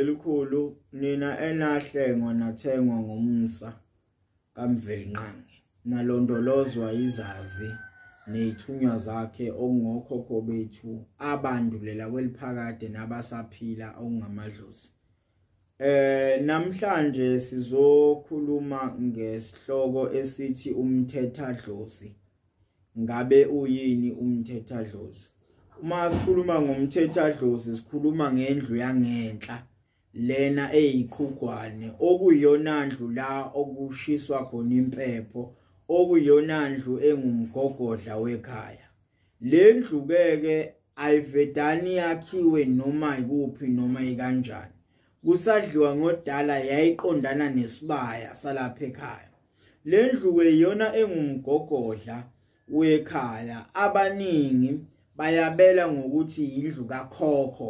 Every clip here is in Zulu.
elikhulu nina enahlengwa nathengwa ngomsa kamvelinqangi nalondolozwa izazi neyithunywa zakhe okungokhokho bethu abandulela kweliphakade nabasaphila okungamadlozi Eh namhlanje sizokhuluma ngesihloko esithi umthetha dlozi. Ngabe uyini umthetha dlozi? Uma sikhuluma ngomthetha dlozi sikhuluma ngendlu yangenhla lena eyiqhugwane okuyona ndlu la okushiswa khona impepho okuyona ndlu engumgogodla wekhaya. le ndlu keke ayivedani yakhiwe noma ikuphi noma ikanjani kusadliwa ngodala yayiqondana nesibaya salapha ekhaya le ndlu kweyona engumgogodla wekhaya abaningi bayabela ngokuthi yindlu kakhokho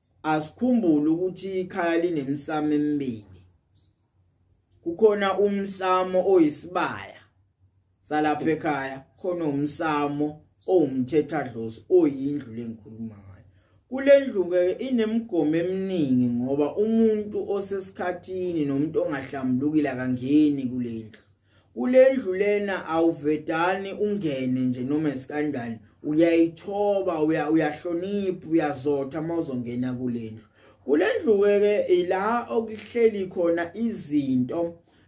asikhumbule ukuthi ikhaya linemsamo emibili kukhona umsamo oyisibaya salapha ekhaya khona umsamo owumthetha dlozi oyindlu lengikhuluma ngayo kulendlu ke inemigomo eminingi ngoba umuntu osesikhathini nomuntu ongahlambulukile akangeni kulendlu kulendlu lena awuvedani ungene nje noma isikanjani uyayithoba uyahlonipha uyazotha uma uzongena kulendlu kulendlu-ke ke ila okuhleli khona izinto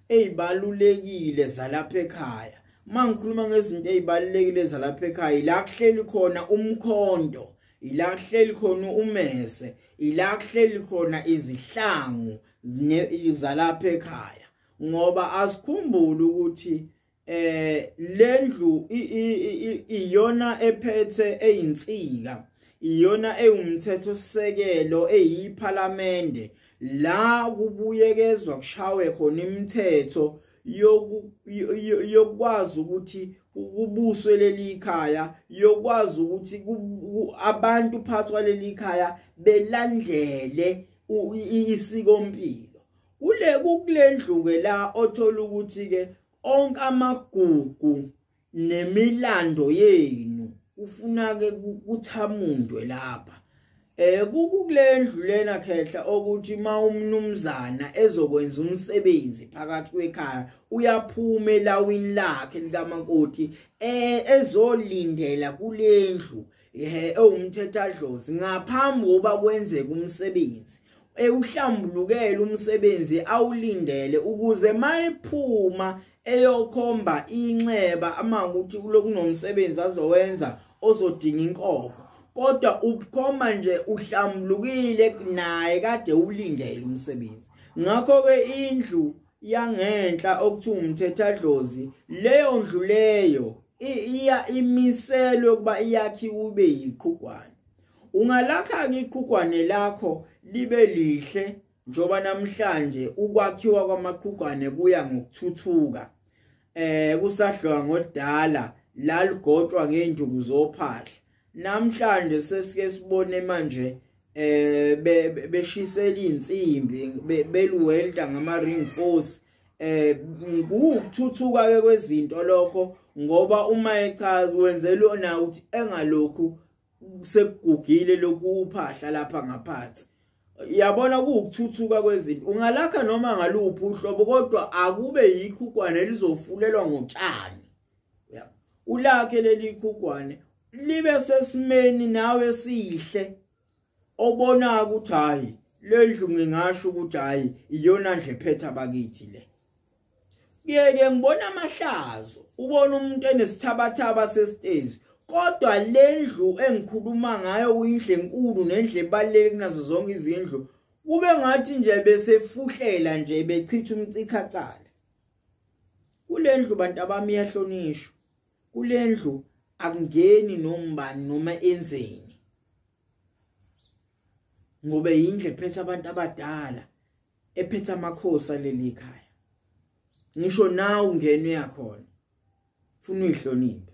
ezibalulekile zalapha ekhaya uma ngikhuluma ngezinto ezibalulekile zalapha ekhaya ila kuhleli khona umkhondo ila kuhleli khona umese ila kuhleli khona izihlangu zalapha ekhaya ngoba asikhumbule ukuthi eh lendlu iyona ephethe eyinsika iyona ewumthetho sisekelo eyiphalamende la kubuyekezwa kushawe khona imithetho yokwazi ukuthi kubuswe leli khaya yokwazi ukuthi abantu phathwa leli khaya belandele isikompilo kule kukulendlu-ke la othola ukuthi-ke onke amagugu nemilando yenu ufuna-ke kuthamundwe lapha eh kukulendlu lena khehla ukuthi uma umnumzana ezokwenza umsebenzi phakathi kwekhaya uyaphuma elawini lakhe likamakoti eh ezolindela kulendlu ehe ewumthethadlozi ngaphambi kokuba kwenzeke umsebenzi ewuhlambulukele umsebenzi awulindele ukuze mayiphuma eyokhomba inxeba ama ukuthi kulokunomsebenzi azowenza ozodinga inkomo kodwa ubukhoma nje uhlambulukile naye kade ulindele umsebenzi ngakho ke indlu yangenhla okuthiwa umthethadlozi leyo ndlu leyo iya imiselwe ukuba iyakhiwe ube yiqhugwane ungalakha-ke iqhugwane lakho libe lihle njengoba namhlanje ukwakhiwa kwamaqhugwane kuya ngokuthuthuka eh kusadliwa ngodala laligotshwa ngeenduku zophahla namhlanje sesike sibone manje eh beshisela insimbi beluwelda ngama ring force eh ngikuthuthuka ke kwezinto lokho ngoba uma echaza wenzelwe na ukuthi engalokhu sekugugile lokhu uphahla lapha ngaphansi yabona kuwukuthuthuka kwezinto ungalakha noma ngaluphi uhlobo kodwa akube yikho ukwane lizofulelwa ngotshani yeah. ulakhe leli khugwane libe sesimeni nawe sihle obona ukuthi hayi lendlu ngingasho ukuthi hayi iyona nje phetha bakithi le ngeke ngibona amahlazo ubona umuntu enesithabathaba sesitezi kodwa lendlu engikhuluma ngayo uyindle enkulu nendle ebaluleke kunazo zonke izindlu kube ngathi nje besefuhlela nje bechitha umcichathana kulendlu bantu abami yahlonishwa kulendlu akungeni nombani noma enzeni ngoba yindle ephethe abantu abadala ephethe amakhosi aleli khaya ngisho nawe ungena uyakhona funa uyihloniphe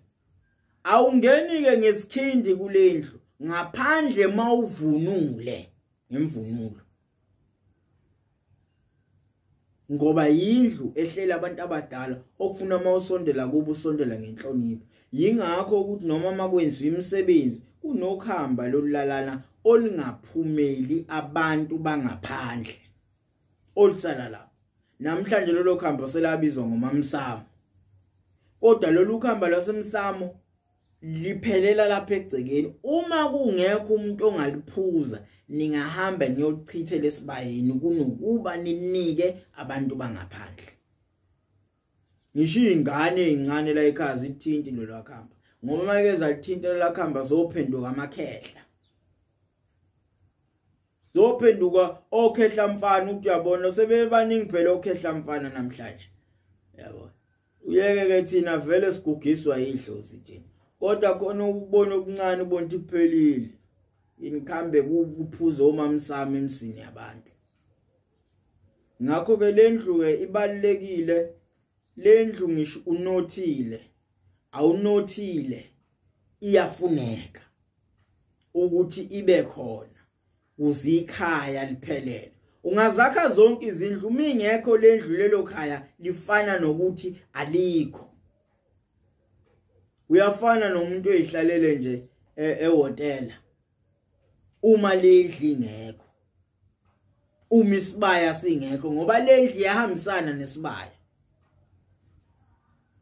awungeni ke ngesikhindi kulendlu ngaphandle mawuvunule ngemvunulo ngoba yindlu ehlela abantu abadala okufuna uma usondela kubo usondela ngenhlonipho yingakho ukuthi noma makwenziwa imisebenzi kunokuhamba lolulalana olungaphumeli abantu bangaphandle olusala lapho namhlanje lolo khambo selabizwa ngomamsamo kodwa lolu khamba lwasemsamo liphelela lapha egcekeni uma kungekho umuntu ongaliphuza ningahamba niyolichithe lesibayeni kunokuba ninike abantu bangaphandle ngisho ingane ezincane la ekhaya zithinti lolwakhamba ngoba make zalithinta lolwakhamba zophenduka amakhehla zophenduka okhehla mfana ukuthi uyabona sebebaningi phela okhehla mfana namhlanje yabo uyeke ke thina vele sigugiswa idlozi nje kodwa khona ukubona okuncane ubonti kuphelile inikhambe kuphuza omamsami emsini yabantu ngakho ke lendlu ke ibalekile lendlu ngisho unothile awunothile iyafuneka ukuthi ibe khona uzikhaya liphelele ungazakha zonke izindlu mingekho lendlu lelo khaya lifana nokuthi alikho uyafana nomuntu oyihlalele nje e-, ehotela uma lendli ngekho uma isibaya singekho ngoba lendli yahambisana nesibaya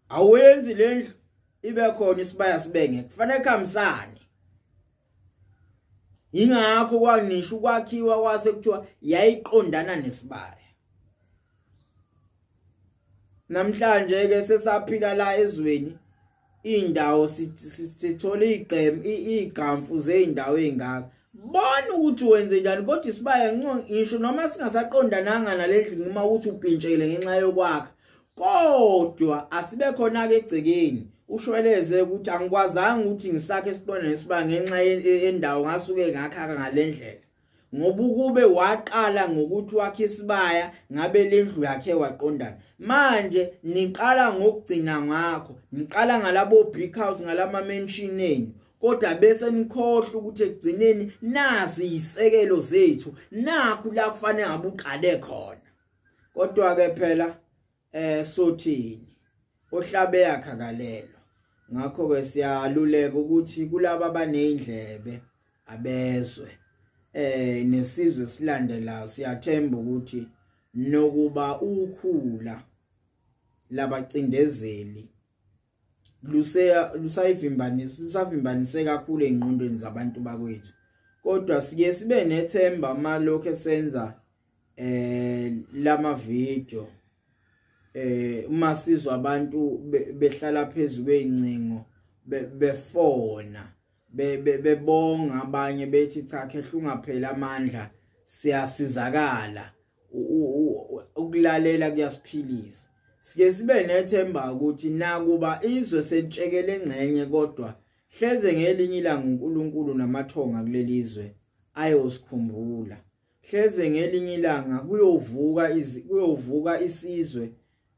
awenzi lendlu ibe khona isibaya sibenge kufanele kuhambisane ingakho kwanisho ukwakhiwa kwase kuthiwa yayiqondana nesibaya namhlanje ke sesaphila la ezweni indawo sithole igqem igqamfu zeindawo ezingaka bona ukuthi wenze njani kodwa isibaya ngisho noma singasaqondananga nalendlu noma ukuthi upintshele ngenxa yokwakha kodwa asibe khona ke egcekeni ushweleze ukuthi angikwazanga ukuthi ngisakhe isibona nesiba ngenxa yendawo ngasuke ngakhaka ngalendlela ngoba ukube waqala ngokuthi wakhe isibaya ngabe lendlu yakhe waqondana manje niqala ngokugcina ngakho niqala ngalabo big house ngalama mansion enu kodwa bese nikhohle ukuthi ekugcineni nazi izisekelo zethu nakhu la kufanele ngabuqale khona kodwa ke phela eh sothini ohlabe yakhakalelwa ngakho ke siyaluleka ukuthi kulabo abanezindlebe abezwe eh nesizwe silandelayo siyathemba ukuthi nokuba ukhula labacindezeli luseya lusayivimbanisa lusavimbanise kakhulu engqondweni zabantu bakwethu kodwa siye sibe nethemba malokho esenza eh lama video eh uma sizwa abantu behlala phezulu kweincingo befona bebonga be, be abanye bethi cha khehlungapheli amandla siyasizakala ukulalela kuyasiphilisa sike sibe nethemba ukuthi nakuba izwe selitshekele engxenye kodwa hleze ngelinye ilanga uNkulunkulu namathonga kuleli zwe ayosikhumbula hleze ngelinye ilanga kuyovuka kuyovuka isizwe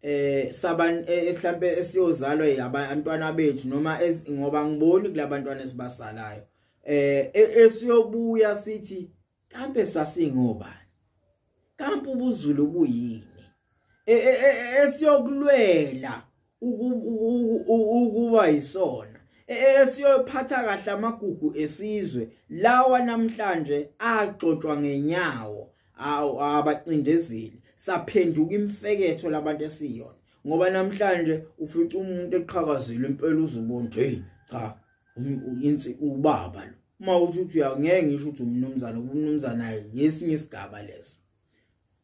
eh saban eh, mhlambe esiyozalwa yabantwana bethu noma ngoba ngiboni kulabantwana esibasalayo eh e, esiyobuya sithi kambe sasingobani kambe ubuzulu buyini e, e, esiyokulwela ukuba yisona esiyophatha kahle amagugu esizwe lawa namhlanje agxotshwa ngenyawo awu abacindezeli saphenduka imfeketho labantu esiyona ngoba namhlanje ufica umuntu eqhakazile impela uzubona hey cha insi ubaba lo uma uthi uthi uyangeke ngisho ukuthi umnumzana ubumnumzana yesinye isigaba leso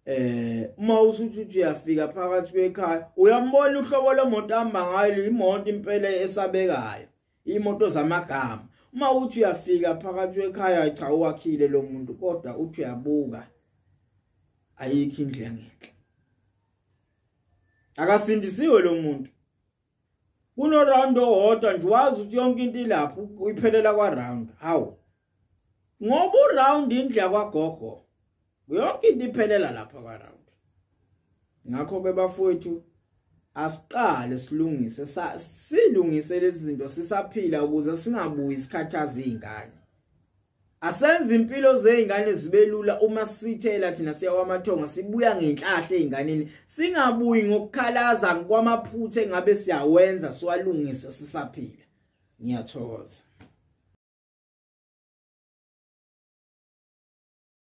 eh uma uthi uthi uyafika phakathi kwekhaya uyambona uhlobo lemoto amba ngayo imoto impela esabekayo imoto zamagama uma uthi uyafika phakathi wekhaya cha uwakhile lo muntu kodwa uthi uyabuka ayikho indlu engenhla akasindisiwe lo muntu kuno round owodwa nje wazi ukuthi yonke into ilapho uyiphelela kwa round hawu ngoba uround indlu yakwagogo yonke into iphelela lapha kwaround ngakho ke bafowethu asiqale silungise silungise lezi zinto sisaphila ukuze singabuyi sikhathaza izingane asenze impilo zeingane zibelula uma sithela thina siya kwamathonga sibuya ngenhlahla einganeni singabuyi ngokukhalaza kwamaphutha engabe siyawenza siwalungise sisaphila ngiyathokoza